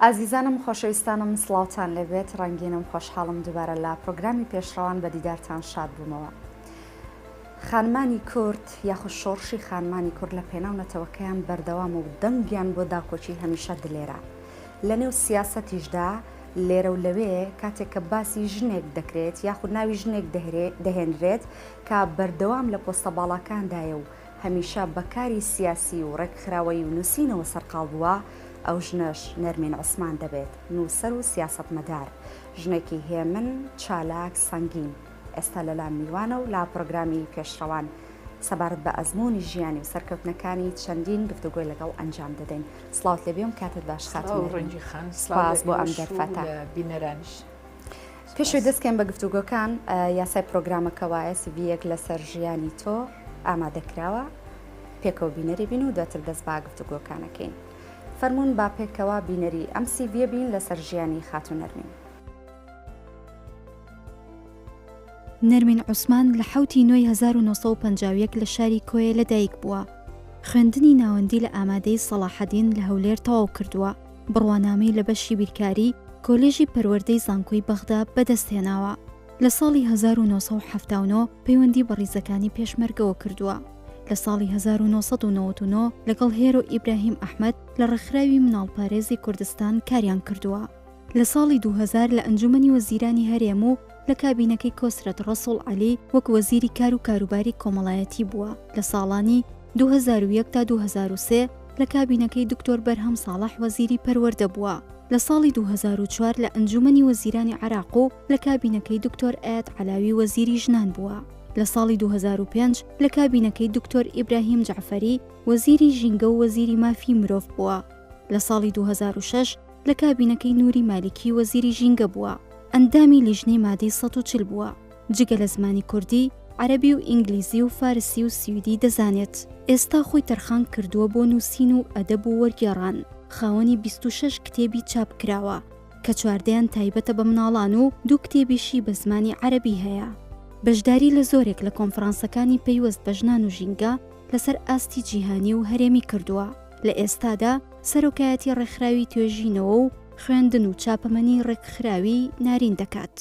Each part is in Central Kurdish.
ئازیزانم خۆشەویستانم سڵاوان لەبێت ڕەنگینم خۆشحاڵم دووبارە لە پرۆگرامی پێشڕەوان بە دیدارتان شاد بوومەوە. خانمانی کورد یاخود شۆڕشی خانمانی کورد لە پێناو نەتەوەکەیان بەردەوامە و دەنگیان بۆ داکۆکی هەمیشە دلێرە. لە نێو سیاسەتیشدا لێرە و لەوێ کاتێک کە باسی ژنێک دەکرێت یاخود ناوی ژنێک دەهێنرێت کە بەردەوام لە پۆستە باڵاکاندایە و هەمیشە بە کاری سیاسی و ڕێکخراوەیی و نووسینەوە سەرقاڵ بووە ئەو ژنەش نەرمین عوسمان دەبێت نووسەر و سیاسەتمەدار. ژنێکی هێمن، چالاک، سەنگین. ئێستا لەلام میوانە و لا پرۆگرامی پێشڕەوان سەبارەت بە ئەزموونی ژیانی و سەرکەوتنەکانی چەندین گفتوگۆی لەگەڵ ئەنجام دەدەین سلااوت لێ بێم کاتت باش خات ڕەنجی خان سلااز بۆ ئەم دەرفەتە بینەرانیش. پێشوی دەستکەم بە گفتوگۆکان یاسای پرۆگرامەکە وایە سڤەک لەسەر ژیانی تۆ ئامادەکراوە پێکەوە بینەری بین و دواتر دەست با گفتوگۆکانەکەین فەرمونون با پێکەوە بینەری ئەم سیڤە بین لەسەر ژیانی خاتونەرمین. نەرمین عوسمان لە حەوت ی نۆی هەزار و نۆ سەد و پەنجا و یەک لە شاری کۆیە لە دایک بووە. خوێندنی ناوەندی لە ئامادەیی سەڵاحەدین لە هەولێر تەواو کردووە، بڕوانامەی لە بەشی بیرکاری کۆلێژی پەروەردەی زانکۆی بەغدا بەدەست هێناوە. لە ساڵی هەزار و نۆ سەد و حەفتا و نۆ پەیوەندی بە ڕیزەکانی پێشمەرگەوە کردووە. لە ساڵی هەزار و نۆ سەد و نەوەد و نۆ لەگەڵ هێرۆ ئیبراهیم ئەحمەد لە ڕێکخراوی مناڵپارێزی کوردستان کاریان کردووە. لە ساڵی دوو هەزار لە ئەنجوومەنی وەزیرانی هەرێم و لە کابینەکەی کۆسرەت ڕەسوڵ عەلی وەک وەزیری کار و کاروباری کۆمەڵایەتی بووە، لە ساڵانی دوو هەزار و یەک تا دوو هەزار و سێ لە کابینەکەی دکتۆر بەرهەم ساڵح وەزیری پەروەردە بووە، لە ساڵی دوو هەزار و چوار لە ئەنجوومەنی وەزیرانی عێراق و لە کابینەکەی دکتۆر ئایەت عەلاوی وەزیری ژنان بووە، لە ساڵی دوو هەزار و پێنج لە کابینەکەی دکتۆر ئیبراهیم جەعفەری وەزیری ژینگە و وەزیری مافی مرۆڤ بووە، لە ساڵی دوو هەزار و شەش لە کابینەکەی نوری مالیکی وەزیری ژینگە بووە، ئەندامی لیژنەی مادەی سەد و چل بووە، جگە لە زمانی کوردی، عەرەبی و ئینگلیزی و فارسی و سویدی دەزانێت، ئێستا خۆی تەرخان کردووە بۆ نووسین و ئەدەب و وەرگێڕان، خاوەنی بیست و شەش کتێبی چاپ کراوە کە چواردەیان تایبەتە بە مناڵان و دوو کتێبیشی بە زمانی عەرەبی هەیە. بەشداری لە زۆرێک لە کۆنفرانسەکانی پەیوەست بە ژنان و ژینگە لەسەر ئاستی جیهانی و هەرێمی کردووە. لە ئێستادا سەرۆکایەتی ڕێکخراوی توێژینەوە و خوێندن و چاپەمەنی ڕێکخراوی نارین دەکات.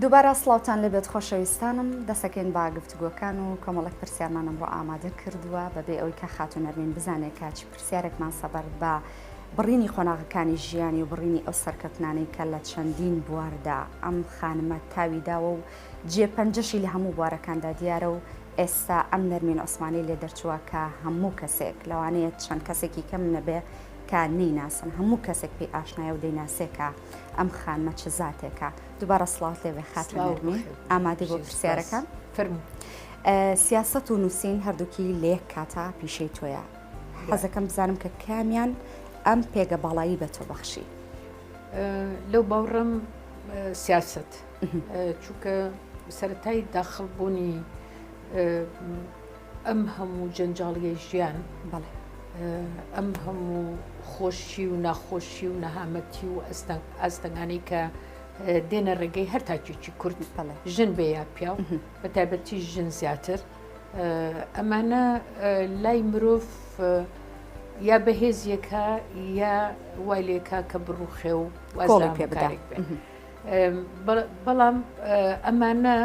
دووبارە سڵاوتان لەبێت خۆشەویستانم دەسەکەین با گفتوگۆکان و کۆمەڵک پرسیارمانم بۆ ئامادە کردووە بەبێ ئەوی کە خاتونەرمین بزانێت کاچی پر پرسیارێکمان سەبارەت بە بڕینی قۆناغەکانی ژیانی و بڕینی ئەو سەرکەوتنانەی کە لە چەندین بواردا ئەم خانمە تاوی داوە و جێ پەنجەشی لە هەموو بوارەکاندا دیارە و ئێستا ئەم نەرمین عوسمانی لێ دەرچووە کە هەموو کەسێک لەوانەیە چەند کەسێکی کەم نەبێ کە نەیناسن هەموو کەسێک پێی ئاشنایە و دەیناسێکە ئەم خانمە چ زاتێکە دووبارە سڵاوت لێ بێ خاتە نەرمی ئامادە بۆ پرسیارەکان فەرموو سیاست و نووسین هەردووکی لە یەک کاتا پیشەی تۆیە حەزەکەم بزانم کە کامیان ئەم پێگە باڵایی بە تۆ بەخشی لەو باوڕم سیاست چونکە سەتای داخڵبوونی ئەم هەموو جەنجاڵیە ژیان بەڵێ ئەم هەموو خۆشی و ناخۆشی و نەهامەتی و ئەستەنگ ئاستەنگانی کە دێنە ڕێگەی هەر تاکێکی کورد ژن بێ یا پیاو بە تایبەتی ژن زیاتر ئەمانە لای مرۆڤ یا بەهێزیەکە یا وای لێکا کە بڕوخێ و وازڵی پێ بکارێک بێ بەڵام ئەمانە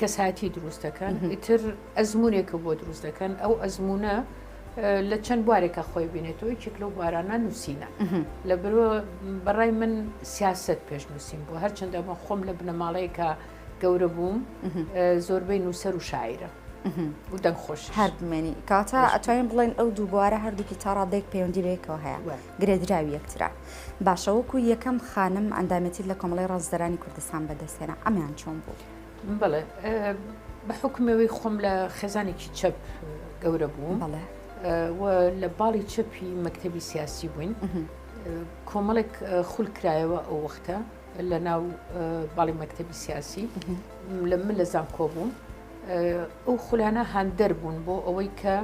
کەساتی دروست دەکەن ئیتر ئەزمونێکە بۆ دروست دەکەن ئەو ئەزمونە لە چەند بوارێکە خۆی بینێتەوە یەکێک لەو بارانە نووسینە لە بەڕای من سیاست پێش نووسین بۆ هەرچەندە بە خۆم لە بنەماڵەیەکە گەورە بووم زۆربەی نووسەر و شاعرە دەنگ خۆش هەر بمێنی کاتە ئەتوانین بڵێن ئەو دوو بوارە هەردووکی تا ڕادێک پەیوەندی بێکەوە هەیە گرێدراوی یەکترا باشە وەکو یەکەم خانم ئەندامێتی لە کۆمەڵی ڕازدەرانی کوردستان بەدەستێنە ئەمیان چۆن بوو بڵێ بە حکومەوەی خۆم لە خێزانێکی چەپ گەورە بوو بڵێ لە باڵی چەپی مەکتتەبی سیاسی بووین کۆمەڵێک خولکرایەوە ئەو وەختە لە ناو باڵی مەکتتەبی سیاسی لە من لە زانکۆ بووم ئەو خولانە هاندەر بوون بۆ ئەوەی کە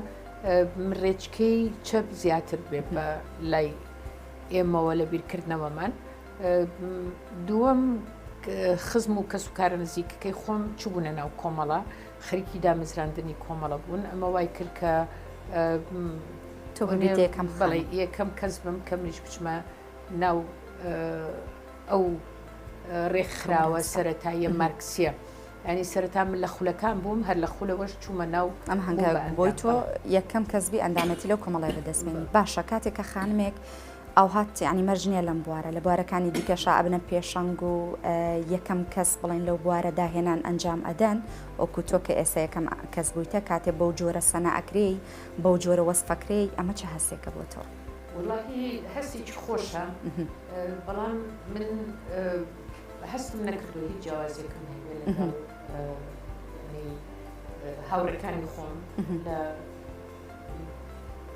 ڕێچکەی چەپ زیاتر بێ بە لای ئێمەوە لە بیرکردنەوەمان دووەم خزم و کەس و کارە نزیکەکەی خۆم چبوونە ناو کۆمەڵە خەریکی دامەزراندنی کۆمەڵە بوون ئەمە وای کرد کە تۆ یەکەم بەڵێ یەکەم کەس بم کە منیش بچمە ناو ئەو ڕێکخراوە سەتاییە مارکسیە ینی سەرتا من لە خولەکان بووم هەر لە خولەوەش چوومە ناو ئەم هەنگار بۆی تۆ یەکەم کەسبی ئەندامەتی لەو کۆمەڵای بەدەستمێنی باشە کاتێک کە خانمێک ئەو هات ینی مەرجنیە لەم بوارە لە بوارەکانی دیکەشا ئەبنە پێشەنگ و یەکەم کەس بڵێن لەو بوارە داهێنان ئەنجام ئەدەن ئۆکو تۆ کە ئێستا یەکەم کەس بوویتە کاتێ بەو جۆرە سەنا ئەکرێی بەو جۆرە وەسفەکرێی ئەمە چه هەستێکە بۆ تۆ. وەڵاهی هەستێکی خۆشە بەڵام من هەستم نەکردو هیچ جیاوازیەکەم هەیە لەگەڵ هاوڕەکانی خۆم لە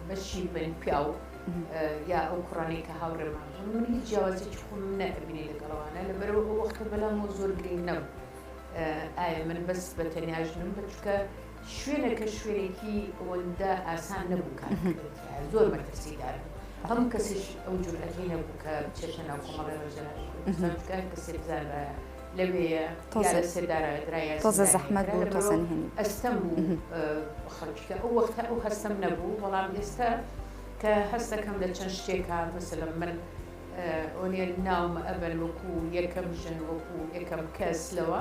بەشی بن پیاو یا ئەو کوڕانی کە هاوڕێمان هەم من هیچ جیاوازێکی خۆم نەبینی لەگەڵوانە لەبەرەوە ئەو وەختە بەلام زۆر گرنگ نەبوو ئایا من بەس بە تەنیا ژنم بچکە شوێنەکە شوێنێکی ئەوەندە ئاسان نەبوو کار بکرێت، زۆر مەترسیدار بوو، هەموو کەسیش ئەو جورئەتەی نەبوو کە بچێتە ناو کۆمەڵی ڕێبەرانی کوردستان، چونکە هەر کەسێ بزانرایە لەوێیە یا لەسێدارەیە درا یا زیندانیکرا، لە بەرەو ئەستەم بوو خەڵکی، کە ئەو وەختە ئەو هەستەم نەبوو، بەڵام ئێستا کە هەست دەکەم لە چەند شتێکا، مەسەلەن من ئۆنێل ناوم ئەبەن وەکوو یەکەم ژن، وەکوو یەکەم کەس لەوە،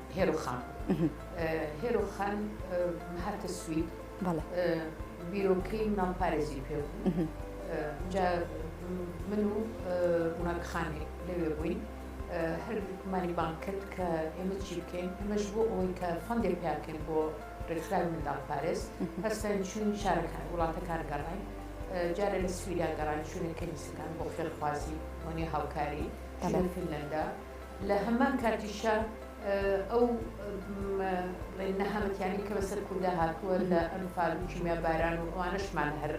هێرۆخان هێرۆخان هاتە سوید بیرۆکەی مناڵ پارێزی پێ بوو جا من و ڕووناک خانێک لەوێ بووین هەرمانی بانک کرد کە ئێمە چی بکەین ئەمەش بۆ ئەوەی کە فەندێک پیاکەین بۆ ڕێکخراوی منداڵ پارێز هەستان چون شارەکان وڵاتەکان گەڕین جارە لە سویدا گەڕان چوونە کەنیسەکان بۆ خێرخوازی وەنی هاوکاری فینلەندا لە هەمان کاتیشا ئەو نەهامەتیانەی کە بەسەر کوردا هاتووە لە ئەنفال و کیمیاباران و ئەوانەشمان هەر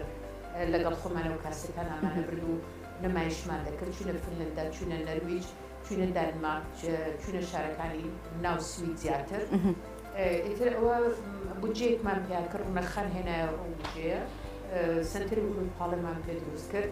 لەگەڵ خۆمانەوە کاسێتان ئامانە برد و نمایشمان دەکرد چونە فنلندا چونە نەرویج چونە دانمارک چونە شارەکانی ناو سوید زیاتر ئیتر ئەوە بودجەیەکمان پیاکە ڕوونەخان هێنایە ئەو بژەیە سنتەری ئوروپاڵەمان پێ دروست کرد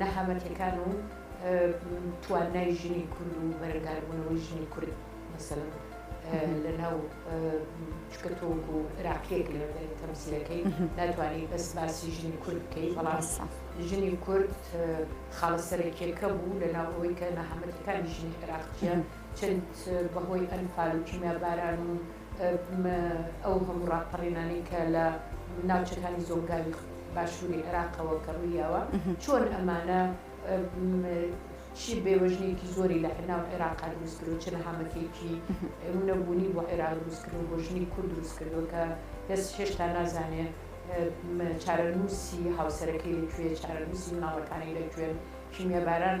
نەهامەتیەکان و توانای ژنی کورد و بەرەنگاربوونەوەی ژنی کورد مەسەلم لە ناو چکە تۆک و عراقیەک لە تەمسیلەکەی ناتوانانی بەس باسی ژنی کورد بکەی بەڵام ژنی کورد خاڵە سەرەکیەکە بوو لە ناو ئەوەی کە نەهامەتەکانی ژنی عراقیە چەند بەهۆی ئەنفال و کیمیا باران و ئەو هەموو ڕاپەڕینانەی کە لە ناوچەکانی زۆنگاوی باشووری عێراقەوە کە ڕوویاوە، چۆن ئەمانە چی بێوەژنێکی زۆری لە ناو عێراقا دروست کردو چ نەهامەتێکی نەبوونی بۆ عێراق دروست کردو بۆ ژنی کورد دروست کردووە کە کەس هێشتا نازانێ چارەنووسی هاوسەرەکەی لەکوێ، چارەنووسی مناڵەکانی لەکوێن، کیمیاباران.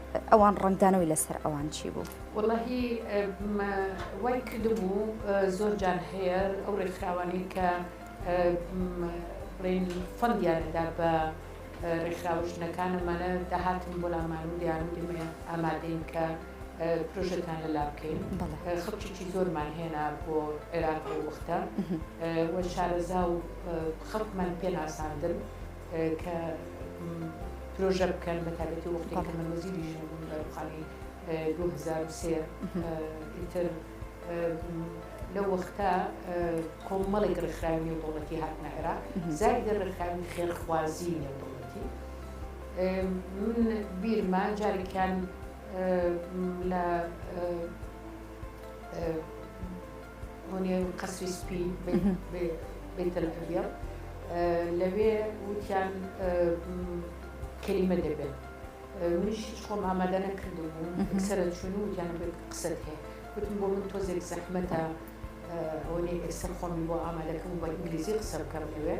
ئەوان ڕەنگدانەوەی لەسەر ئەوان چی بوو؟ وەڵاهی وای کردبوو زۆر جار هەیە ئەو ڕێکخراوانەی کە بڵێن فەندیانەدا بە ڕێکخراوە ژنەکان ئەمانە دەهاتن بۆ لامان و دەیان و دێمە ئامادەین کە پرۆژەتان لەلا بکەین خەڵکیی زۆرمان هێنا بۆ عێراق و وەختە وە شارەزا و خەڵکمان پێناساندن کە پرۆژە بکەن بە تایبەتی وەختێک کە من وەزیری ژینە بووم لە ڕووخانی دوو هەزار و سێ ئیتر لەو وەختە کۆمەڵێک ڕێکخراوی نێودەوڵەتی هاتنە عێراق زایدە ڕێکخراوی خێرخوازی نێودەوڵەتی من بیرما جارێکیان لە بۆنێن قەسری سپی بێتەل ئەبیڵ لەوێ وتیان کەلیمە دەبێت منیش هیچ خۆم ئامادە نەکردو بوو سرە چون و یان قسەت هەیە وتم بۆ من تۆزێک زەحمەتە ئەوەی ئێستا خۆمی بۆ ئامادەکەم بە ئینگلیزی قسە بکەم لەوێ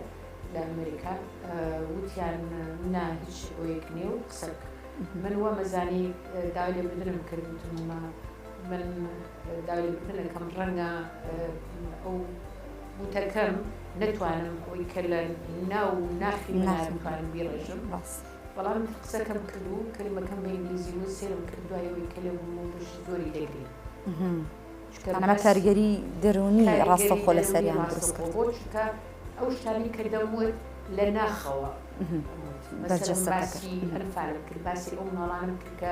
لە ئەمریکا وتیان نا هیچ بۆیەک نیە و قسە من وە مەزانی داوای لێ بدرم کردوتممە من داوری بتنەکەم ڕەنگە ئەو بوتەکەم نەتوانم ئەوی کە لە ناو ناخی منار بتوانم بیڕێژم باس بەڵام قسەکەم کرد و کەلیمەکەم بە ئینگلیزی و سێرم کرد دوایەوەی کە لێ بووم و پشتی زۆری تێکری ئەمە کارگەری دەرونی ڕاستە خۆ لە سەریان دروست کرد بۆ چکە ئەو شتانی کە دەموت لە ناخەوە بەرجەسەکە باسی ئەنفالم کرد باسی ئەو ماڵانم کرد کە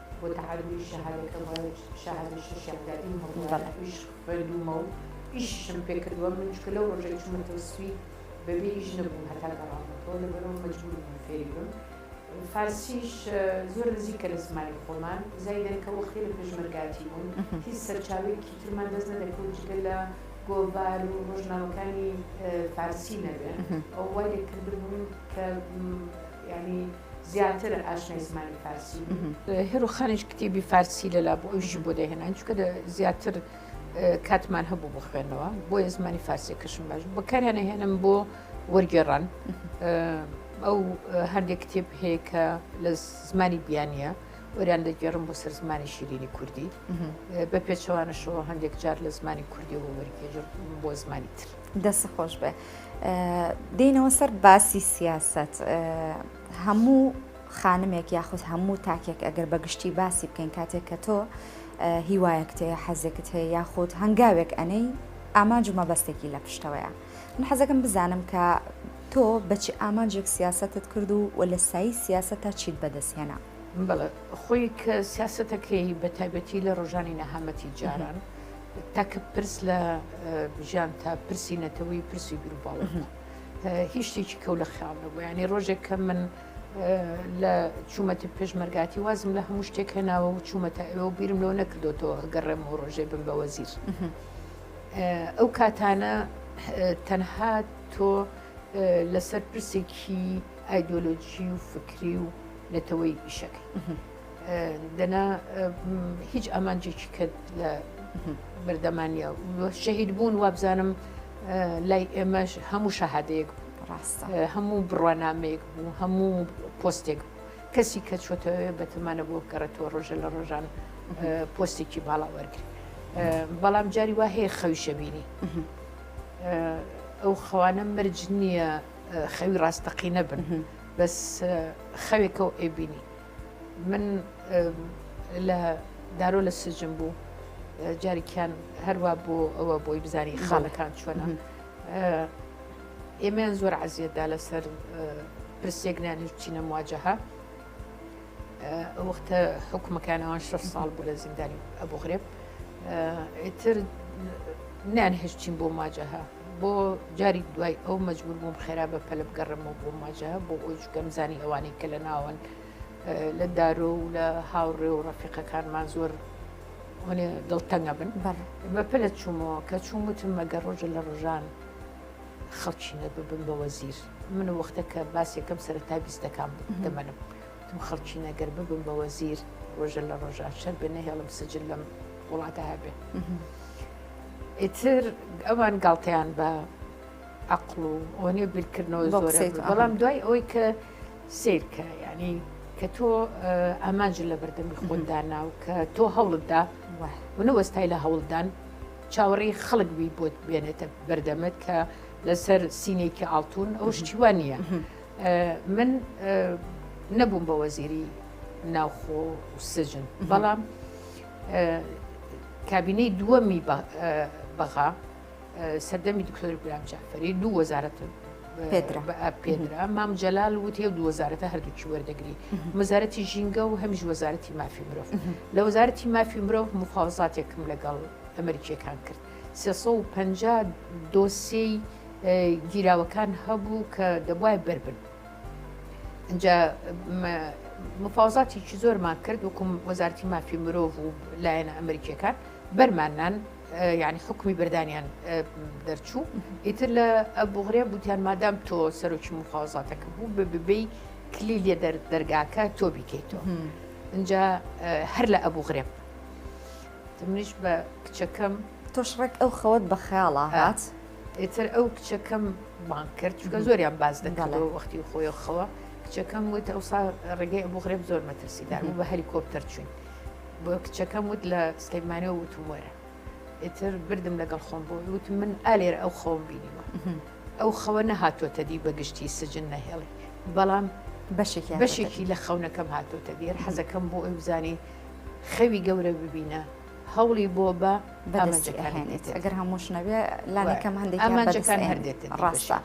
بۆ تەعەلومی شەهادەکەم وایە شەهادەی شەشیان دا ئیم هەبوایە ئیش خوێندوومە و ئیشیشم پێ کردووە من چونکە لەو ڕۆژەی چوومەتەوە سوید بەبێ ئیش نەبووم هەتا گەڕامەتەوە لەبەرئەوە مەجبوور بووم فێری بم فارسیش زۆر نزیکە لە زمانی خۆمان زایدەن کە وەختی لە پێشمەرگاتی بوون هیچ سەرچاوەیەکی ترمان دەست نەدەکەوت جگە لە گۆڤار و ڕۆژنامەکانی فارسی نەبێ ئەو وای لێ کردبووم کە یانی زیاتر ئاشنای زمانی فارسی هێرو خانیش کتێبی فارسی لەلا بۆ ئەویشی بۆ دەهێنان چکە زیاتر کاتمان هەبوو بۆ خوێندنەوە بۆیە زمانی فارسی کەشم باش بەکاریانە هێنم بۆ وەرگێڕان ئەو هەندێک کتێب هەیە کە لە زمانی بیانە وەریان دەگێڕم بۆ سەر زمانی شیرینی کوردی بە پێچەوانەشەوە هەندێک جار لە زمانی کوردی و وەرگێژر بۆ زمانی تر. دەست خۆش بێ دێنەوە سەر باسی سیاست هەموو خانمێک یاخود هەموو تاکێک ئەگەر بەگشتی باسی بکەین کاتێک کە تۆ هیوایەکت هەیە حەزێکت هەیە یاخود هەنگاوێک ئەنەی ئامانج و مەبەستێکی لە پشتەوەیە من حەزەکەم بزانم کە تۆ بەچی ئامانجێک سیاستت کرد و و لە سایی سیاست تا چیت بەدەستهێنا بەڵێ خۆی کە سیاستەکەی بە تایبەتی لە ڕۆژانی نەهامەتی جاران. تا کە پرس لە ژیان تا پرسی نەتەوەی پرسی گروپاڵ هیچ شتێکی کەو لە خیاڵ نەبوو ینی ڕۆژێک کە من لە چوومەتی پێشمەرگاتی وازم لە هەموو شتێک هێناوە و چوومەتە ئەوە بیرم لەوە نەکردوەوە گەڕێم و ڕۆژێ بم بە وەزیر ئەو کاتانە تەنها تۆ لەسەر پرسێکی ئایدۆلۆجی و فکری و نەتەوەی ئیشەکەی دەنا هیچ ئامانجێکی کرد لە بەردەمانە شەهید بوون وابزانم لای ئێمەش هەموو شەهادەیەک ڕاستە هەموو بڕوانامەیەک بوو هەموو پۆستێک بوو کەسی کە چۆتەوێ بەتەمانە بۆ بگەڕێتەوە ڕۆژە لە ڕۆژان پۆستێکی باڵا وەرگری بەڵام جاری وا هەیە خەوی شەبینی ئەو خەوانە مرج نییە خەوی ڕاستەقی نەبن بەس خەوێکە و ئەبینی من لە دارۆ لە سجم بوو جارێکیان هەروە بۆ ئەوە بۆی بزانانی خاڵەکان چۆنە ئێمەیان زۆر عزیەتدا لەسەر پرسێک نانیش بچینە مواجهها وەختە حکومەکانەوەن شش ساڵ بوو لە زیندانی ئەبوو غرێب ئیتر نان هشتین بۆ ماجەها بۆ جاری دوای ئەو مەجبور بووم خێرا بە پەلە بگەڕم و بۆ ماجە بۆ ئەوی چکەم زانی ئەوانەی کە لە ناوەن لە دارۆ و لە هاوڕێ و ڕەفیقەکانمان زۆر هەنێ دڵتەنگە بن بەر بە پەلە چوومەوە کە چوون وتم مەگە ڕۆژە لە ڕۆژان خەڵکی نەببم بە وەزیر من وەختەکە باسێکم سەرەتا بیستەکان دەمەنم وتم خەڵکینە گەر ببم بە وەزیر ڕۆژە لە ڕۆژان شەر بێ نەهێڵم سجل لەم وڵاتە هەبێ ئیتر ئەوان گاڵتەیان بە عقل و ئەوەنێ بیرکردنەوە زۆر بەڵام دوای ئەوەی کە سیرکە ینی کە تۆ ئامانج لە بەردەمی خۆندا ناو کە تۆ هەوڵتدا منە وەستای لە هەوڵدان چاوەڕی خەڵک بی بۆت بێنێتە بەردەمت کە لەسەر سینێکی ئاڵتون ئەو شتیوان نییە من نەبووم بە وەزیری ناوخۆ و سجن بەڵام کابینەی دووەمی بەغا سەردەمی دکتۆری گرام جعفری دوو وەزارەتن پێدرا مام جەلال وتی و دووەزارەتە هەردووکی وەردەگری مەزارەتی ژینگە و هەمیش وەزارەتی مافی مرۆڤ لە وەزارەتی مافی مرۆڤ مخوازاتێکم لەگەڵ ئەمریکیەکان کرد سێ سەد و پەنجا دۆسیەی گیراوەکان هەبوو کە دەبوایە بەربن ئەجا مفاوزاتێکی زۆرمان کرد وکم وەزارتی مافی مرۆڤ و لایەنە ئەمریکیەکان بەرماننان یعنی حکومی بردانیان دەرچوو ئیتر لە بغرێ بوتیان مادام تۆ سەرۆکی مفاوزاتەکە بوو ببی کلی لێ دەرگاکە تۆ بیکەیتەوە اینجا هەر لە ئەبوو غرێب منیش بە کچەکەم. تۆش ڕێک ئەو خەوەت بە خەیاڵا هات؟ ئیتر ئەو کچەکەم بانگ کرد، چونکە زۆریان باس دەکردەوە وەختی خۆی و خەوە. کچەکەم وت ئەوسا ڕێگەی ئەبوو غرێب زۆر مەترسیدار بوو، بە هەلیکۆپتەر چووین. بۆ کچەکەم وت لە سلێمانییەوە وتم وەرە. ئیتر بردم لەگەڵ خۆم بۆ وی، وتم من ئا لێرە ئەو خەوەم بینیوە. ئەو خەوە نەهاتۆتە دی بە گشتی سجن نەهێڵی، بەڵام بەشێکی لە خەونەکەم هاتۆتە دی. حەزەکەم بۆ ئەوی بزانی. خەوی گەورە ببینە هەوڵی بۆ بە بەدەستێنێت ئەگەر هەمووش نەبێ لانەکەم هەندێک ئەمانجەکان هەردێت ڕاستە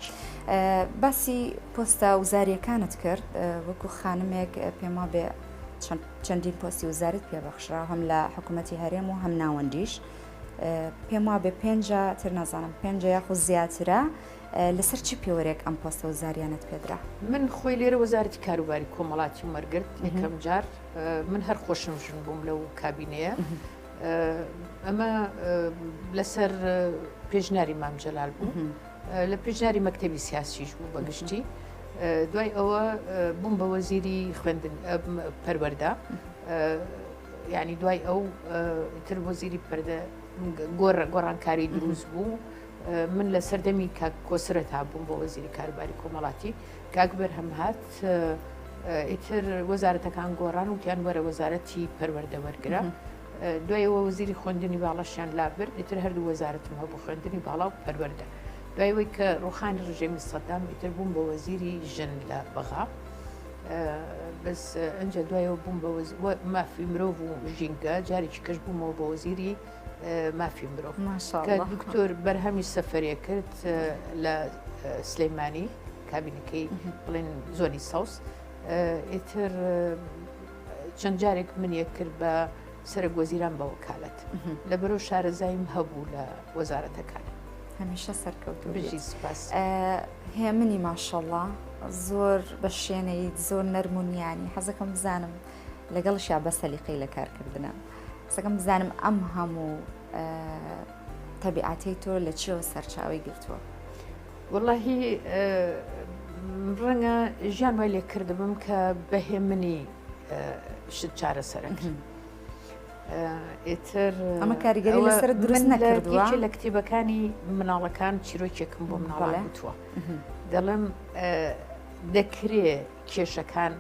باسی پۆستە وزاریەکانت کرد وەکو خانمێک پێما بێ چەندین پۆستی وزارت پێبەخشرا هەم لە حکوومەتتی هەرێم و هەم ناوەندیش پێم وا بێ پێنج تر نازانم پێنج یاخود زیاترە لەسەر چ پێوەرێک ئەم پۆستە وزاریانەت پێدرا؟ من خۆی لێرە وەزارەتی کاروباری کۆمەڵاتی وەرگرت یەکەم جار من هەر خۆشم ژن بووم لەو کابینەیە ئەمە لەسەر پێشناری مامجلال بوو لە پێشناری مەکتتەبی سیاسیش بوو بەگشتی دوای ئەوە بووم بە وەزیری خوێندن پەروەەردا ینی دوای ئەو تر وەزیری پەردە گۆڕ گۆڕانکاری دروست بوو من لە سەردەمی کاک کۆسرەتا بووم بۆ وەزیری کاروباری کۆمەڵاتی کاک بەرهەم هات ئیتر وەزارەتەکان گۆڕان وتیان وەرە وەزارەتی پەروەەردە وەرگرە دوایەوە وەزیری خوێندنی باڵەشیان لابرد ئیتر هەردوو وەزارەتم هەبوو خوێندنی باڵا و پەروەەردە دوایەوەی کە ڕوخانی ڕژێمی سەدام ئیتر بووم بە وەزیری ژن لە بەغا بەس ئەجا دوایەوە بووم بە مافی مرۆڤ و ژینگە جارێکی کەش بوومەوە بە وەزیری مافی مرۆڤ دکتۆر بەرهەمی سەفرێ کرد لە سلەیمانی کابینەکەی بڵێن زۆنی ساوس ئیتر چەند جارێک من یەک کرد بە سەرە گۆزیران بە وکالەت لە بەرەو شارەزایم هەبوو لە وەزارەتەکان هەمیشە سەرکەوت بژی سپاس هێمنی ماشەڵە زۆر بە شوێنەی زۆر نەرمونیانی حەزەکەم بزانم لەگەڵ شا بە سەلیقەی لە کارکردە. قسەکەم بزانم ئەم هەموو تەبیعاتەی تۆ لە چیەوە سەرچاوی گرتووە وڵهی ڕەنگە ژیان وای لێ کردبم کە بەهێ منی شت چارەسەرەکە ئێتر ئەمە کاریگەری لەسەر درست نەکردوە لە کتێبەکانی مناڵەکان چیرۆکێکم بۆ مناڵە وتووە دەڵم دەکرێ کێشەکان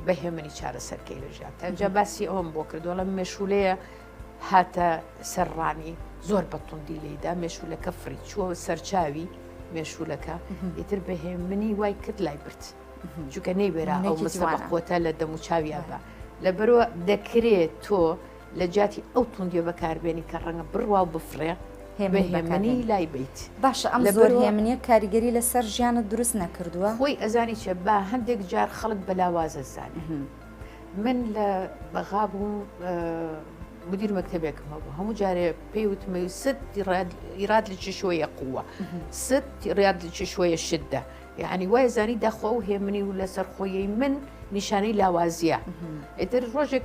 بە هێمنی چارەسەرکەی لە ژیان تەنجا باسی ئەوم بۆ کردو لەم مێشولەیە هاتە سەرڕانی زۆر بەتوندی لێدا مێشولەکە فری چوە سەرچاوی مێشولەکە ئیتر بەهێ منی وای کرد لای برد جوکە نەیبێرا ئەو مسڵە قوتە لە دەموچاویان بە لە بەرەوە دەکرێت تۆ لەجیاتی ئەو توندیە بەکاربێنی کە ڕەنگە بڕوا و بفڕێ هێمنی لای بیت باشە ئەم زۆر هێمنیە کاریگەری لەسەر ژیانت دروست نەکردووە خۆی ئەزانی چێ با هەندێک جار خەڵک بەلاوازە زانێ من لە بەغا بووم مدیر مەکتتەبێکم هەبوو هەموو جارێ پێی وتمەوی ست ئیراد لە چشوەیە قووە ست ڕاد لە چشوەیە شدە یعنی وای زانی دەخوا و هێمنی و لەسەر خۆیی من نیشانەی لاوازیە ئیتر ڕۆژێک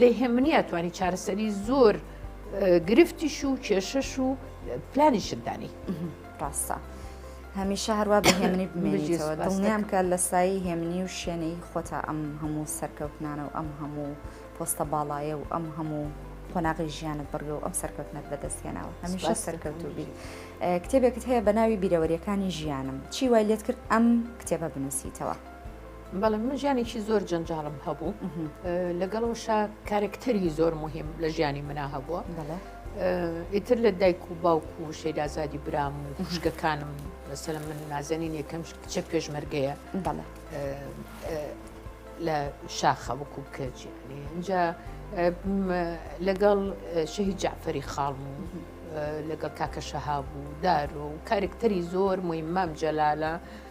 لێهێمنیە توانی چارەسەری زۆر گرفتیش و کێشەش و پلانیشت دانی ڕاستە. هەمیشە هەروە بە هێمنی بمێنیتەوە دڵنیام کە لە سایی هێمنی و شوێنەی خۆتا ئەم هەموو سەرکەوتنانە و ئەم هەموو پۆستە باڵایە و ئەم هەموو قۆناغی ژیانت بڕگە و ئەم سەرکەوتنت بەدەستهێناوە هەمیشە سەرکەوتو بیت کتێبێکت هەیە بە ناوی بیرەوەریەکانی ژیانم چی وای لێت کرد ئەم کتێبە بنووسیتەوە بەڵێ من ژیانێکی زۆر جەنجاڵم هەبوو لەگەڵەوەشە کارکتەری زۆر مهم لە ژیانی منا هەبووە ئیتر لە دایک و باوک و شەیدازادی برام و خوشکەکانم لەسەر من نازەنین یەکەم کچە پێشمەرگەیە لە شاخە وەکو بکەچی اینجا لەگەڵ شەهید جعفری خاڵم و لەگەڵ کاکە شەهاب و دارۆ و کارکتەری زۆر مویمام جەلالە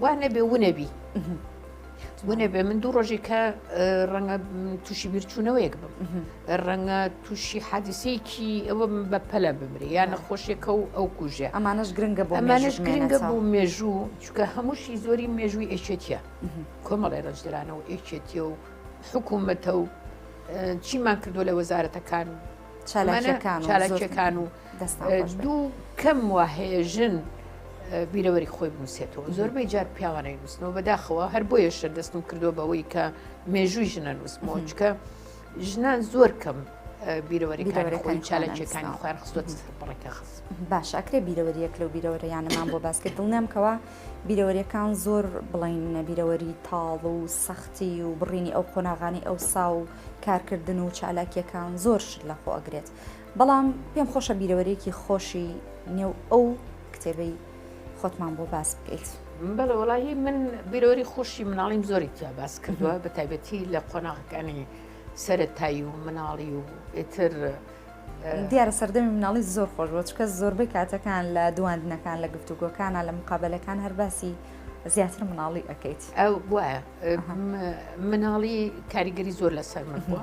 وا نەبێ ونەبی ونەبێ من دوو ڕۆژی کە ڕەنگە تووشی بیرچوونەوەیەک بم ڕەنگە تووشی حادیسەیەکی ئەوە بە پەلە بمری یان نەخۆشیەکە و ئەو کوژێ ئەمانش گرنگە بۆ ئەمانش گرنگە بۆ مێژوو چکە هەمووشی زۆری مێژووی ئێچێتە کۆمەڵی ڕێژدرانەوە ئێچێتە و حکوومەتە و چیمان کردو لە وەزارەتەکان چالاکەکان و دوو کەم وا هەیە ژن بیرەوەری خۆی بنووسێتەوە زۆربەی جار پیاوانەی نووسنەوە بەداخەوە هەر بۆ یەشە دەستم کردو بەوەی کە مێژووی ژنە نووسمەوە چکە ژنان زۆر کەم بیرەوەریکارەکانی چالەکیەکانی خوار خستۆت بڕێکە خز باشاکرێ بیرەوەریەک لەو بیرەوەریانەمان بۆ باس کرد دڵنیامکەوە بیرەوەریەکان زۆر بڵێنە بیرەوەری تاڵ و سەختی و بڕینی ئەو قۆناغانی ئەو سا و کارکردن و چالاکیەکان زۆر شت لە خۆگرێت بەڵام پێم خۆشە بیرەوەریەکی خۆشی نێو ئەو کتێبەی خۆتمان بۆ باس بکەیت. بەڵێ وەڵاهی من بیرەوەری خۆشی مناڵیم زۆری تیا باس کردووە بە تایبەتی لە قۆناغەکانی سەرەتایی و مناڵی و ئێتر دیارە سەردەمی مناڵی زۆر خۆش بۆ چکە زۆربەی کاتەکان لە دواندنەکان لە گفتوگۆکانە لە مقابلەکان هەر باسی زیاتر مناڵی ئەەکەیت ئەو وایە مناڵی کاریگەری زۆر لەسەر من بووە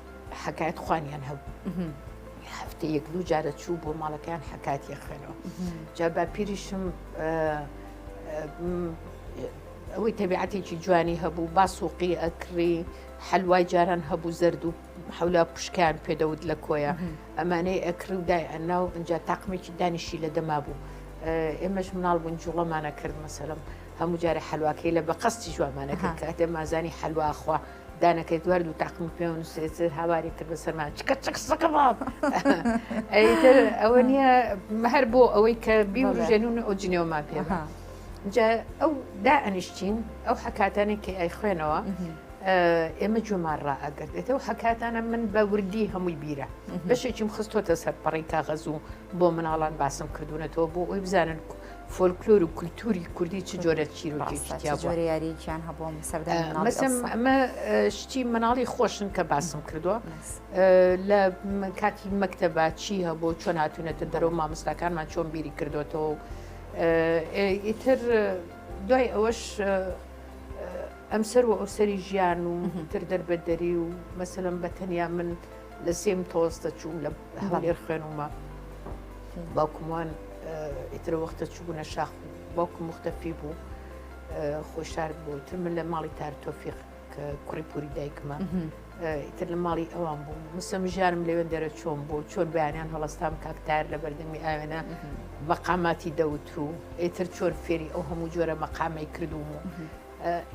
حکایەت خوانیان هەبوو هەفتە یەک دوو جارە چوو بۆ ماڵەکەیان حکاتی خوێنەوە جا بە پیریشم ئەوەی تەبیعاتێکی جوانی هەبوو با سوقی ئەکڕی حلوای جاران هەبوو زرد و حولا پشکیان پێدەوت لە کۆیە ئەمانەی ئەکڕی و دای ئەنا و ئەجا تاقمێکی دانیشی لە دەما بوو ئێمەش مناڵ بوون جوڵەمانە کرد مەسەرم هەموو جارە حلواکەی لە بە قەستی جوامانەکە کاتێ مازانی حلواخوا دانەکەی دوار دوو تاقمی پێوە نووسێت هاواری کرد بەسەرما چکە چک سەکە باڵ ئەیتر ئەوە نییە هەر بۆ ئەوەی کە بیوژێنون ئەو جنێومان پێ جا ئەو دا ئەنیشتین ئەو حکاتانی کە ئەی خوێنەوە ئێمە جومان ڕائگرێتەوە حکاتانە من بە وردی هەمووی بیرە بەشێکیم خستۆتە سەر پەڕی کاغەز و بۆ مناڵان باسم کردوونەتەوە بۆ ئەوی بزانن فۆلکلۆر و کولتوری کوردی چ جۆرە چیرۆکێکی تیا بووە؟ جۆرە یاریەکیان هەبووە سەردەمی مناڵی مەسەم ئەڵسا. ئەمە اه، شتی مناڵی خۆشن کە باسم کردووە اه، لە م- کاتی مەکتەبا چی هەبوو چۆن هاتوونەتە دەرەوە مامۆستاکانمان چۆن بیری کردوێتەوە و، اه، ئیتر دوای ئەوەش اه، ئەمسەر و ئەوسەری ژیان و تر دەربەدەری و مەسەلەن بە تەنیا من لە سێم تۆز دەچووم لە هەولێر خوێنمە باوکمان ئیتر وەختە چوبوونە شاخ باوکم مختەفی بوو خۆی شار بوو تر من لە ماڵی تار تۆفیق کە کوڕی پوری دایکمە ئیتر لە ماڵی ئەوان بوو مسم ژارم لەوێن دەرە چۆن بوو چۆن بەیانیان هەڵستام کاکتار لە بەردەمی ئاوێنە مەقاماتی دەوترو ئیتر چۆن فێری ئەو هەموو جۆرە مەقامی کردوم و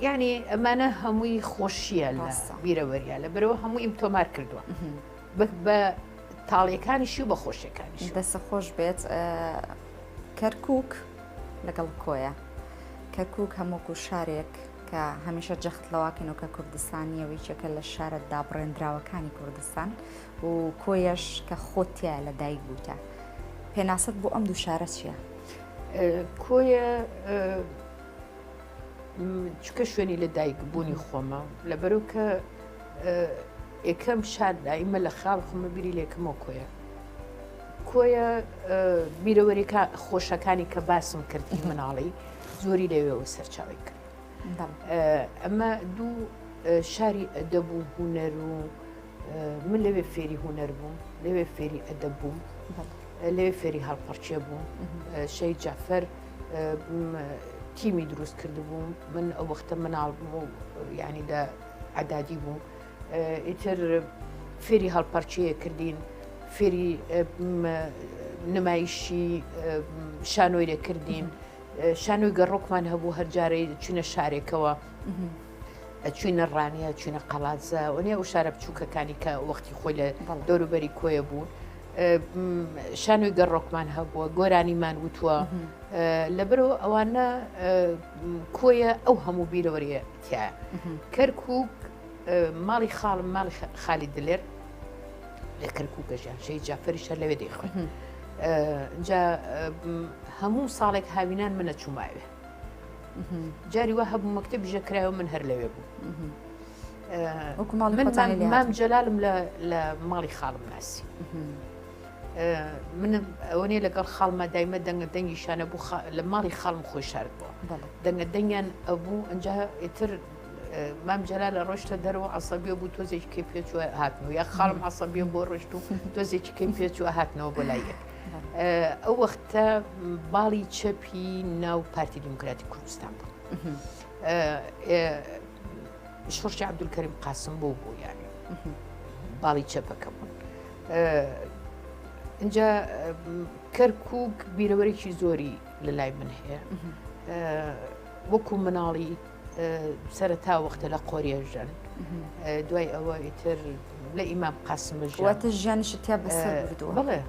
یانی ئەمانە هەمووی خۆشییە لە بیرەوەریە لە بەرەوە هەموو ئیم تۆمار کردووە بە تاڵیەکانیشی و بە خۆشیەکانیش دەسە خۆش بێت کەرکک لەگەڵ کۆیە کەرکک هەمووکو شارێک کە هەمیشە جەخت لەواکەن و کە کوردستانیەوەی چێکە لە شارە دابڕێنراوەکانی کوردستان و کۆیەش کە خۆتیە لە دایک بووتە پێناست بۆ ئەم دوو شارە چییە؟ کۆیە چکە شوێنی لە دایک بوونی خۆمە لەبەرو کە ئێکەم شار دایمە لە خاڵ خۆمە بیری لێکەمەوە کۆیە کۆیە بیرەوەریکە خۆشەکانی کە باسم کردی مناڵی زۆری لەوێەوە سەرچاوی کرد ئەمە دوو شاری ئەدەب و هوەر و من لەوێ فێری هوەر بووم لەوێ فێری ئەدەب بووم لەوێ فێری هەڵپەرچێ بووم شەی جافەر تیمی دروست کردبووم من ئەو وەختە مناڵ بووم و ینی لە عدادی بووم ئیتر فێری هەڵپەرچەیە کردین فێری نمایشی شانۆی لەکردین شانۆی گەڕۆکمان هەبوو هەرجارەی چینە شارێکەوە ئەچینە ڕانیە چینە قەڵاتزە و نیە و شارە بچووکەکانی کە وەختی خۆی لە دەوروبەری کۆیە بوو شانۆی گەڕۆکمان هەبووە گۆرانیمان وتووە لەبەرەوە ئەوانە کۆیە ئەو هەموو بیرەوەریە تیا کەرکک ماڵی خاڵم ماڵی خالی دلێر لە کەرککەژیان شەی جافریشە لەوێ دەیخۆن جا هەموو ساڵێک هاوینان منە چووماوێ جاری وە هەبوو مەکتتە بژە کرایەوە من هەر لەوێ بوو. مام جەلالم لە ماڵی خاڵم ناسی من ئەوەنێ لەگەڵ خاڵمە دایمە دەنگە دەنگی شانە بوو لە ماڵی خاڵم خۆی شارد بووە دەنگە دەنگیان ئەبوو ئەجا ئیتر مام جەلا لە ڕۆشتە دەرەوە عسەبیە بوو تۆزێکی کەی پێچوە هاتنەوە یا خاڵم عسەبیە بۆ ڕۆشت و تۆزێکی کەی پێچوە هاتنەوە بۆ لایەک ئەو وەختە باڵی چەپی ناو پارتی دیموکراتی کوردستان بوو. شۆڕشی عەبدولکەریم قاسم بۆ بوو یانێ باڵی چەپەکە بوون اینجا کەرکک بیرەوەرێکی زۆری لە لای من هەیە وەکو مناڵی سەرەتا وەختە لە قۆریێژەن دوای ئەوە ئیتر لە ئیمام قاسمە ژواتە ژیانی شتیا بەسەر بڵێ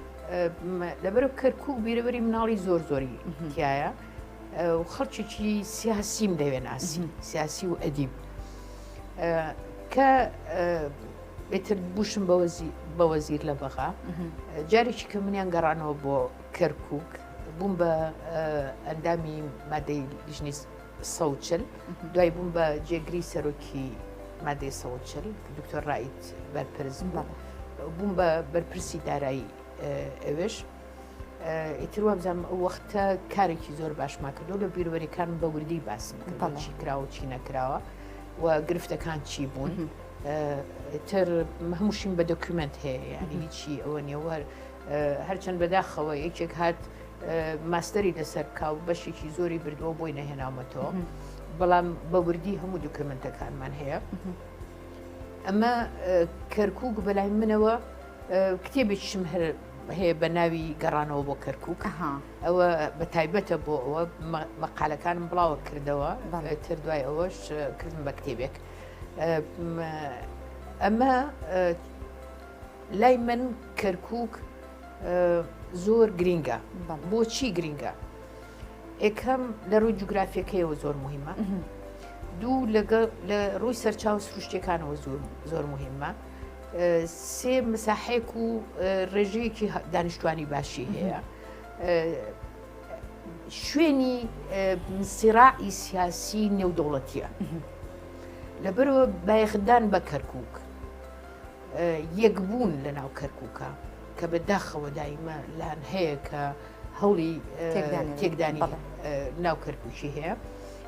لەبەرو کەرکک بیرەوەری مناڵی زۆر زۆری تایە. خەڵکیی سیاسیم دەوێن ئاسی سیاسی و ئەدیب کە بێتر بوشم بە وەزیر لە بەغا جارێکی کە منیان گەڕانەوە بۆ کەرکک بووم بە ئەندامی مادەی لیژنی سەوچل دوای بووم بە جێگری سەرۆکی مادەی سەوچل دکتۆر ڕیت بەرپرزم بە بووم بە بەرپرسی دارایی ئەوێش ئیتر وابزان ئەو وەختە کارێکی زۆر باشمان کردو لە بیرۆریەکان بە وردی باسم چی کراوە چی نەکراوە و گرفتەکان چی بوون تر هەمووشیم بە دۆکیومنت هەیە یعنی هیچی ئەوە نێوەر هەرچەند بەداخەوە یەکێک هات ماستەری لەسەر کاو بەشێکی زۆری بردووە بۆی نەهێناومەتەوە بەڵام بە وردی هەموو دۆکیومنتەکانمان هەیە ئەمە کەرکک بەلای منەوە کتێبێکشم هەر هەیە بە ناوی گەڕانەوە بۆ کەرکک ئەوە بە تایبەتە بۆ ئەوە مەقالەکانم بڵاوە کردەوە تر دوای ئەوەش کردم بە کتێبێک ئەمە لای من کەرکک زۆر گرینگە بۆچی گرینگە ئێکەم لە ڕووی جوگرافیەکەیەوە زۆر مهمە دوو لەگەڵ لە ڕووی سەرچاو سروشتەکانەوە زۆر زۆر مهمە سێ مساحەیەک و ڕێژەیەکی دانیشتوانی باشی هەیە شوێنی سیراعی سیاسی نێودەوڵەتیە لەبەرەوە بایخدان بە کەرکک یەکبوون لە ناو کەرککە کە بە داخەوە دایمە لان هەیە کە هەوڵی تێکدانی ناو کەرککی هەیە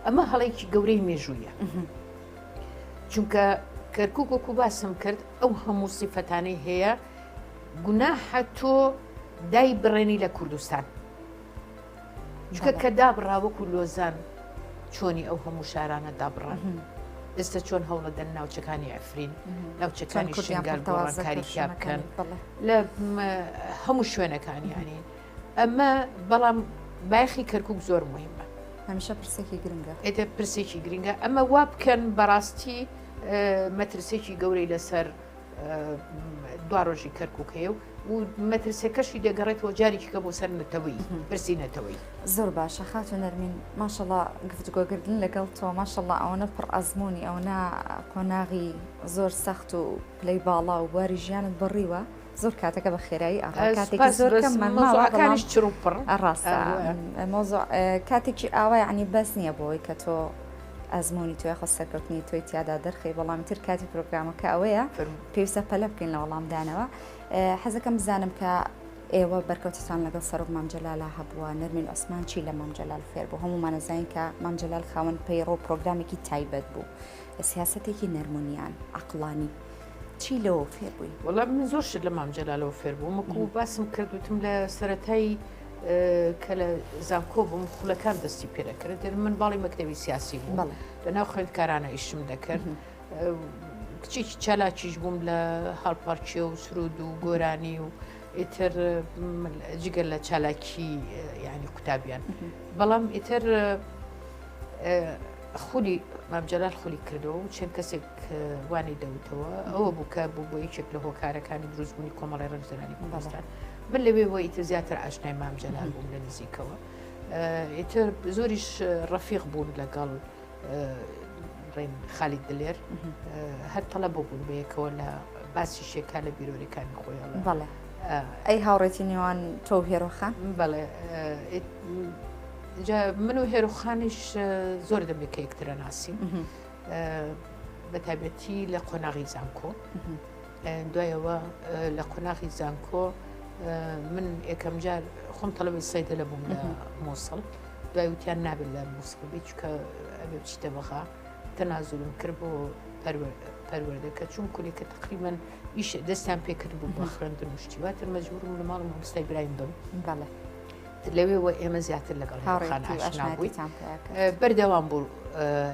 ئەمە هەڵێکی گەورەی مێژوویە چونکە کەرکک وەکو باسم کرد ئەو هەموو سیفەتانەی هەیە گوناحە تۆ دای بڕێنی لە کوردستان جکە کە دابڕا وەکو لۆزان چۆنی ئەو هەموو شارانە دابڕان ئێستا چۆن هەوڵە دەن ناوچەکانی ئەفرین ناوچەکانی شنگال گۆڕانکاری بکەن لە هەموو شوێنەکانیانی ئەمە بەڵام بایخی کەرکک زۆر مهمە هەمیشە پرسێکی گرنگە ئێتە پرسێکی گرنگە ئەمە وا بکەن بەڕاستی مەترسێکی گەورەی لەسەر دوارۆژی کەرککەیە و مەترسەکەشی دەگەڕێتەوە جارێکیکە بۆ سەر نەتەوەی پرسی نەتەوەی زۆر باشە خاتو نەرمین ماشەڵا گفتگۆگردن لەگەڵ تۆ ماشەڵا ئەوەنە پڕ ئەزمموی ئەونا قۆناغی زۆر سەخت و پلەی باڵا و بواری ژیانت بڕیوە زۆر کاتەکە بە خێرایی ئەڕا کاتێکی زۆر کەممان ماوە کانیش چڕوپڕ ڕاستە مۆزۆ کاتێکی ئاوا عنی بەس نییە بۆی کە تۆ ئەزمموی توێ خۆ سەرکەوتنی توی تیادا دەرخی بەڵام تر کاتی پرۆگرامەکە ئەوەیە پێویستە پەلە بکەین لە وەڵامدانەوە حەزەکەم بزانم کە ئێوە بەرکەوتتان لەگەڵ سەرۆک مامجللا هەبووە نەرمین ئۆسمان چی لە مامجلال فێر بوو هەمومانەزین کە مامجلال خاوەن پەیڕۆ پرۆگرامێکی تایبەت بوو سیاستێکی نەرمونیان عقلانی چی لەوە فێر بووی؟ وەڵا من زۆر شت لە مام جەلالەوە فێر بووم وەکو باسم کرد وتم لە سەتایی کە لە زانکۆ بووم خولەکان دەستی پێ دەکرد دێن من باڵی مەکتەوی سیاسی بووم لە ناو خوێندکارانە ئیشم دەکرد کچێکی چالاکیش بووم لە هەڵپەرچێ و سرود و گۆرانی و ئیتر جگە لە چالاکی ینی قوتابیان بەڵام ئیتر خولی مام جەلال خولی کردەوە و چەند کەسێک وانی دەوتەوە ئەوە بوو کە بوو بۆ یەکێک لە هۆکارەکانی دروستبوونی کۆمەڵی ڕێکزرانی کوردستان من لەوێ بۆ ئیتر زیاتر ئاشنای مام جەلال بووم لە نزیکەوە ئیتر زۆریش ڕەفیق بوون لەگەڵ ڕێن خالی دلێر هەر تەڵە بۆ بوون بەیەکەوە لە باسی شێکا لە بیرۆریەکانی خۆیان بەڵێ ئەی هاوڕێتی نێوان تۆ هێرۆخان بەڵێ جا من و هێرۆخانیش زۆر دەمێک کە یەکترە ناسیم بە تابەتی لە قۆناغی زانکۆ دوایەوە لە قۆناغی زانکۆ من یەکەم جار خۆم تەڵەبی سەیدە لە بووم لە مۆسڵ دوای وتیان نابێت لە مۆسڵ بی چکە ئەبێ بچیتە بەغا تەنازولم کرد بۆ پەروەردەکە چون کولێکە تقریبان ئیش دەستیان پێکرد بوو بە خوێندن شتیواتر مەجبورم لە ماڵ مامۆستای برایم بم بەڵێ لەوێوە ئێمە زیاتر لەگەڵ هاوڕێخان ئاشنا بووی بەردەوام بوو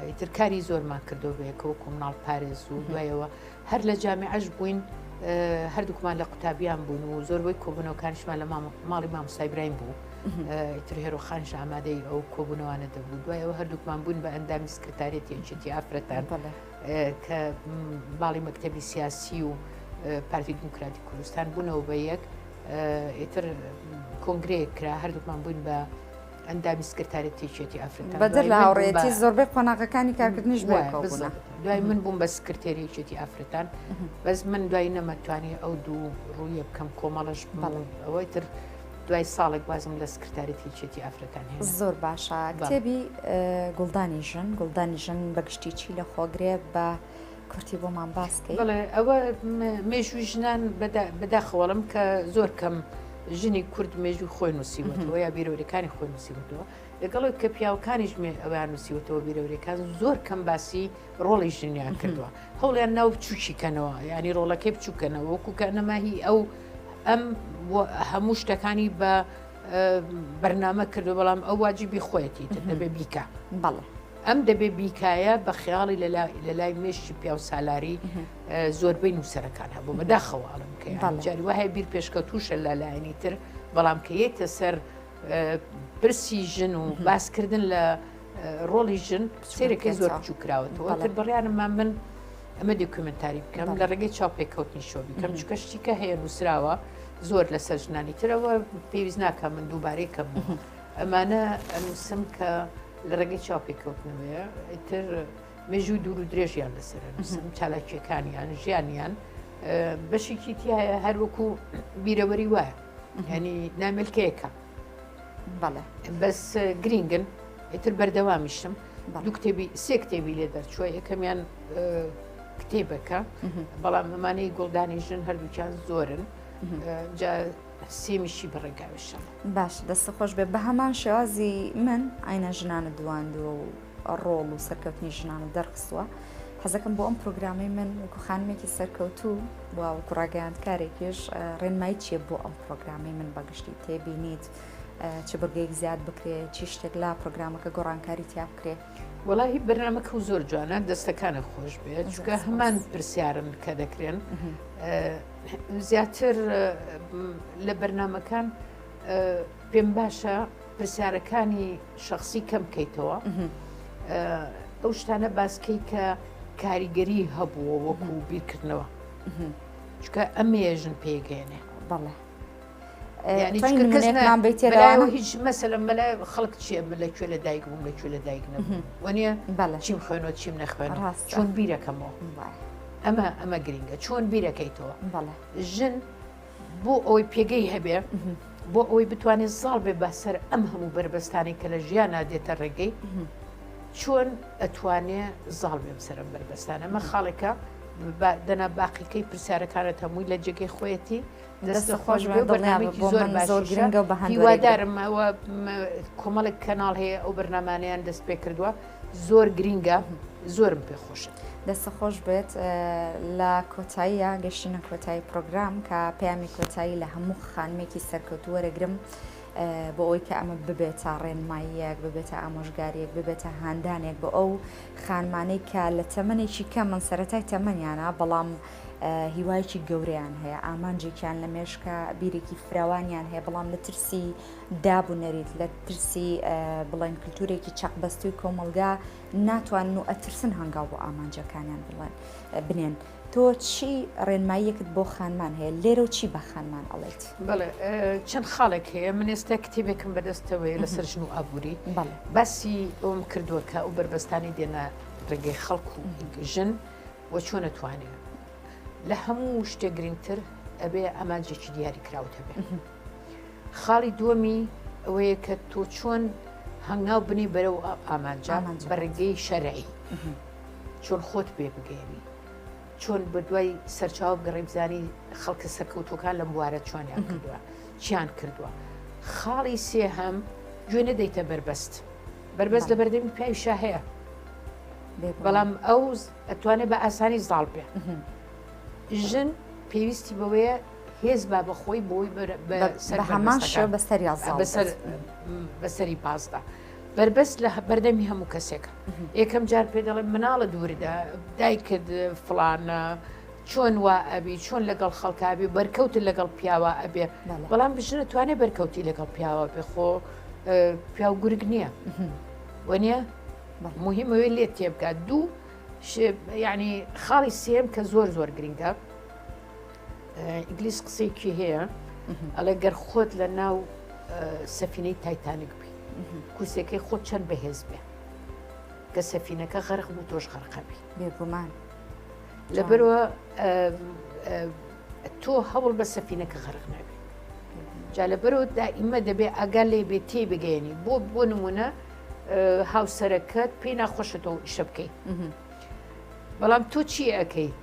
ئیتر کاری زۆرمان کردەوە بەیەکەوە کۆمناڵ پارێز و دوایەوە هەر لە جامعش بووین هەردووکمان لە قوتابیان بوون و زۆربەی کۆبنەوەکانشمان لە ماڵی مام سایبراین بوو ئیتر هێرۆخانش ئامادەی ئەو کۆبوونەوانە دەبوو دوایەوە هەردووکمان بوون بە ئەندامی سکرتارێتی یەکێتی ئافرەتان بەڵێ کە باڵی مەکتەبی سیاسی و پارتی دیموکراتی کوردستان بوونەوە بە یەک ئیتر کۆنگرەیەک کرا هەردووکمان بووین بە ئەندامی سکرتاری تێچێتی ئەفرەتان بەدەر لە هاوڕێتی زۆربەی قۆناغەکانی کارکردنیش بۆ دوای من بووم بە سکرتێریچێتی ئەفرەتان بەس من دوای نەمەتوانی ئەو دوو ڕوویە بکەم کۆمەڵش بەڵێ ئەوەی تر دوای ساڵێک وازم لە سکرتاریەتی یەکێتی ئافرەتان هێنا. زۆر باشە کتێبی گوڵدانی ژن گوڵدانی ژن بە گشتی چی لە خۆگرێ بە کورتی بۆمان باس بکەی بڵێ ئەوە مێژووی ژنان بەداخەوەڵم کە زۆر کەم ژنی کورد مێژوو خۆی نووسیوەەوە یا بیرۆریەکانی خۆی نووسیوەوە لەگەڵک کە پیاوەکانیش مێ ئەویان نووسیوەەوە بیرۆریەکان زۆر کەم باسی ڕۆڵی ژنیان کردووە هەوڵیان ناو بچوکی کەنەوە ینی ڕۆڵەکەی بچووکەنەوە وەکوکە نەماهی ئەو ئەم هەموو شتەکانی بە بەرنامە کردو بەڵام ئەو واجبی خۆیەتی دەبێ بیکە بەڵێ ئەم دەبێ بیکایە بە خیاڵی لە لای مێشتی پیا و سالاری زۆربەی نووسەرەکان هەبوو بەداخەوەڵم کە جاری وایە بیر پێشکەوتوشە لە لایەنی تر بەڵام کە یەتە سەر پرسی ژن و باسکردن لە ڕۆڵی ژن سێرەکە زۆر بچوو کراوە تۆتر بڕیانمە من ئەمە دکومنتاری بکەم لە ڕێگەی چاو پێکەوتنی شۆ بکەم چکە شتیکە هەیە نووسراوە زۆر لەسەر ژنانی ترەوە پێویست ناکە من دووبارەی کەم ئەمانە ئەنووسم کە لە ڕێگەی چاو پێکەوتنەوەیە ئیتر مێژوو دوور و درێژیان لەسەر نووسم چالاکیەکانیان ژیانیان بەشێکی تایە هەروەکو بیرەوەری وایە ینی ناملکەیەکە بەڵێ بەس گرینگن ئیتر بەردەوامیشم دوو کتێبی سێ کتێبی لێ دەرچووە یەکەمیان کتێبەکە بەڵام ئەمانەی گوڵدانی ژن هەردووچان زۆرن سێمیشی بەڕێگاویشە باش دەستە خۆش بێ بە هەمان شێوازی من ئاینە ژنانە دواندووە و ڕۆڵ و سەرکەوتنی ژنان دەرخستووە حەزەکەم بۆ ئەم پرۆگرامەی من وەکو خانمێکی سەرکەوتوو وەکو ڕاگەیاندکارێکیش ڕێنمایی چیە بۆ ئەم پرۆگرامی من بەگشتی تێبینیت چ بەگەیەک زیاد بکرێت چی شتێک لا پرۆگرامەکە گۆڕانکاری تیا بکرێت وڵی بەرنمەکە و زۆر جوانە دەستەکانە خۆش بێت چگە هەمان پرسیارن کە دەکرێن زیاتر لە بەرنمەکان پێم باشە پرسیارەکانی شخصی کەم بکەیتەوە ئەو شتانە باسکەی کە کاریگەری هەبووە وەکو بیرکردنەوە چکە ئەمێژن پێگەێنێ بەڵێ ینیمان بێتێراوە هیچ مەسەلە مەلا خەڵک چیە لە کوێ لە دایک بووم لە کوێ لە دایک نەبووم وەنیە بەڵە چیم خوێنەوە چیم نەخوێن ڕاست چۆن بیرەکەمەوە ئەمە ئەمە گرنگە چۆن بیرەکەیتەوە بەڵە ژن بۆ ئەوەی پێگەی هەبێ بۆ ئەوەی بتوانێت زاڵ بێ بەسەر ئەم هەموو بەربەستانی کە لە ژیان نادێتە ڕێگەی چۆن ئەتوانێ زاڵ بێم سرم بەربەستانە مە خاڵێکە دەنا باقیکەی پرسیارەکانت هەمووی لە جێگەی خۆیەتی دەستە خۆش بەنامێکی زۆر زۆر گرنگە بە هیوادارمەوە کۆمەڵێک کەناڵ هەیە ئەو بەرنمانیان دەست پێ کردووە زۆر گرینگە زۆرم پێ خۆشە. دەستە خۆش بێت لە کۆتاییە گەشتینە کۆتایی پرۆگرام کە پەیامی کۆتایی لە هەموو خانمێکی سەرکەوت وەرەگرم بۆ ئەوی کە ئەمە ببێتە ڕێنماییەک ببێتە ئامۆژگاریەک ببێتە هاندانێک بۆ ئەو خانمانەی کە لە تەمەێکی کە من سەتای تەمەنیانە بەڵام هیوایکی گەورەیان هەیە ئامانجێکیان لە مێشکە بیرێکی فراوانیان هەیە بەڵام لە ترسی داب و نەریت لە ترسی بڵێن کلتورێکی چەقبەستووی کۆمەڵگا ناتوانن و ئەترسن هەنگاو بۆ ئامانجەکانیان بڵێن بنێن تۆ چی ڕێنماییەکت بۆ خانمان هەیە لێرە و چی بە خانمان ئەڵێت بڵێ چەند خاڵێک هەیە من ئێستا کتێبێکم بەدەستەوەی لەسەر ژن و ئابووری باسی ئەوم کردووە کە ئەو بەربەستانی دێنە ڕێگەی خەڵک و ژن و چۆن نتوانێت لە هەموو شتێک گرنگتر ئەبێ ئامانجێکی دیاری کراوت هەبێت خاڵی دووەمی ئەوەیە کە تۆ چۆن هەنگاو بنی بەرەو ئامانجان بە ڕێگەی شەرعی چۆن خۆت پێ بگەێنی چۆن بە دوای سەرچاو گەڕی بزانی خەڵکە سەکەوتەکان لەم بوارە چۆنیان کردووە چیان کردووە خاڵی سێ هەم گوێ نەدەیتە بەربەست بەربەست لە بەردەمی پیاویشا هەیە بەڵام ئەو ئەتوانێت بە ئاسانی زاڵ بێ ژن پێویستی بەوەیە هێز با بە خۆی بۆی هەمان شێ بە سەریا بە سەری پاسدا. بەربەست لە بەردەمی هەموو کەسێکە یەکەم جار پێ دەڵێ مناڵە دووردا دایکت فلانە چۆن وا ئەبی چۆن لەگەڵ خەڵکبی بەرکەوت لەگەڵ پیاوە ئەبێ بەڵام بژنە توانێ بەرکەوتی لەگەڵ پیاوە بێ خۆ پیاو گورگ نییە وەنیە مهمەوەی لێت تێبگات دوو ینی خاڵی سێم کە زۆر زۆر گرنگە ئینگلیس قسەیەکی هەیە ئەڵێ گەر خۆت لە ناو سەفینەی تایتانک بی کوسەکەی خۆت چەند بەهێز بێ کە سەفینەکە غەرق بوو تۆش غەرقەبی بێگومان لەبەرەوە تۆ هەوڵ بە سەفینەکە غەرق نابێ جا لەبەرەوە دائیمە دەبێ ئاگا لێ بێ تێ بگەێنی بۆ بۆ نمونە هاوسەرەکەت پێی ناخۆشە تۆ شە بکەیت بەڵام تۆ چی ئەەکەیت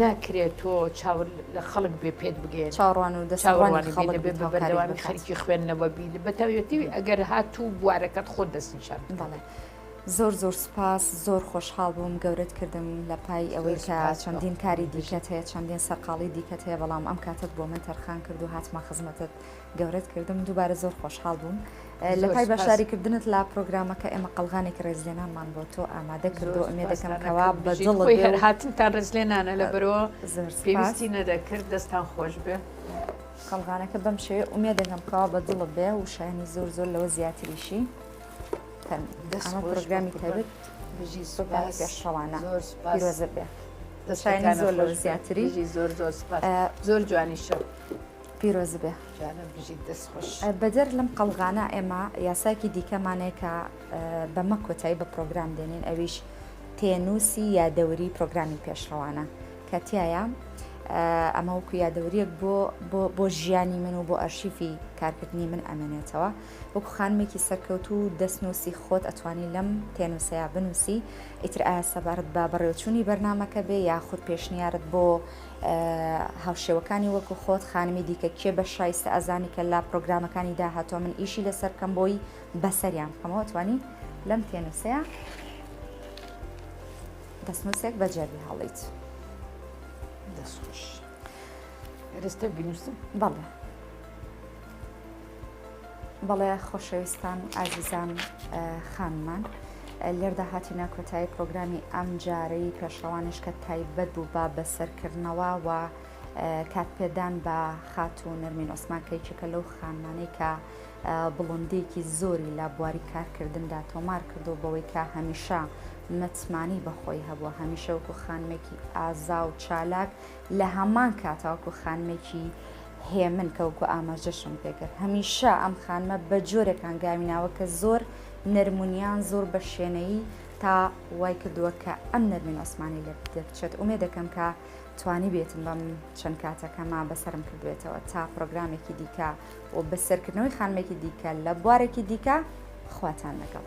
ناکرێت تۆ چاور لە خەڵک بێ پێت بگێ چاوەڕوانی خەڵک بێ بە بەردەوامی خەرکی خوێندنەوە بی لە بەتەوێتی ئەگەر هاتوو بوارەکەت خۆت دەستنیشان بڵێ. زۆر زۆر سوپاس زۆر خۆشحاڵ بووم گەورت کردم لە پای ئەوەی کە چەندین کاری دیکەت هەیە چەندین سەرقاڵی دیکەت هەیە بەڵام ئەم کاتت بۆ من تەرخان کرد و هاتمە خزمەتت گەورەت کردم دووبارە زۆر خۆشحاڵ بووم لە پای بەشداری کردنت لا پرۆگرامەکە ئێمە قەلغانێکی ڕێزلێنانمان بۆ تۆ ئامادە کردو ئەمێ دەکەم کەوا بە دڵ هەر هاتنتان ڕێزلێنانە لە بەرەوە پێویستی نەدەکرد دەستان خۆش بێ قەلغانەکە بەم شێ ئومێ دەگەم کەوا بە دڵ بێ و شایانی زۆر زۆر لەوە زیاتریشی دەسمە پرۆگرامی تەبێت بژی سوپاس پێشڕەوانە زۆر سوپاس بێ دەشایانی زۆر لەوە زیاتری زۆر زۆر سوپاس زۆر جوانی شە پیرۆز بێ بەدەر لەم قەڵغانە ئێمە یاساکی دیکەمانەیە کە بەمە کۆتایی بە پرۆگرام دێنین ئەویش پێنووسی یادەوری پرۆگرامی پێشڕەوانە کە تایە ئەمە وەکو یادەوریەک بۆ بۆ ژیانی من و بۆ ئەرشیفی کارکردنی من ئەمێنێتەوە وەکو خانمێکی سەرکەوت و دەستنووسی خۆت ئەتوانی لەم پێنووسەیە بنووسی ئیتر ئایا سەبارەت با بەڕێوچوونی بەرنمەکە بێ یاخود پێشنیارت بۆ هاوشێوەکانی وەکو خۆت خانمی دیکە کێ بەش شایستە ئەزانی کە لە پرۆگرامەکانی داهاتۆ من ئیشی لەسەر بکەم بۆی بەسەریان بکەمەوە توانی لەم تێنووسەیە دەستنووسێک بە جەربی هەڵیت دەستخۆش ئێرستە بینووسم بەڵێ بەڵێ خۆشەویستان و ئازیزان خانمان لێردا هاتینە کۆتایی پرۆگرامی ئەم جارەی پێشڕەوانش کە تایبەت بوو بە بەسەرکردنەوە و کاتپێدان بە خات و نەرمین ئۆسمان کەیچەکە لەو خانمانەی کە بڵندێکی زۆری لە بواری کارکردندا تۆمار کردو بەوەی کە هەمیشە متمانی بەخۆی هەبووە هەمیشە وەکو خانمێکی ئازا و چالاک لە هەمان کاتاوەکو خانمێکی هێمن کە وەکو ئاماژەشم پێ کرد هەمیشە ئەم خانمە بە جۆرێک هەنگاوی ناوە کە زۆر نەرم و نیان زۆر بە شێنەیی تا وای کردووە کە ئەم نەرمین عوسمانی لێ دەکچێت ئومێ دەکەم کە توانی بێتم بەم چەند کاتەکەما بەسرم کردوێتەوە تا پرۆگرامێکی دیکە و بەسەرکردنەوەی خانمێکی دیکە لە بوارێکی دیکە خواتان لەگەڵ.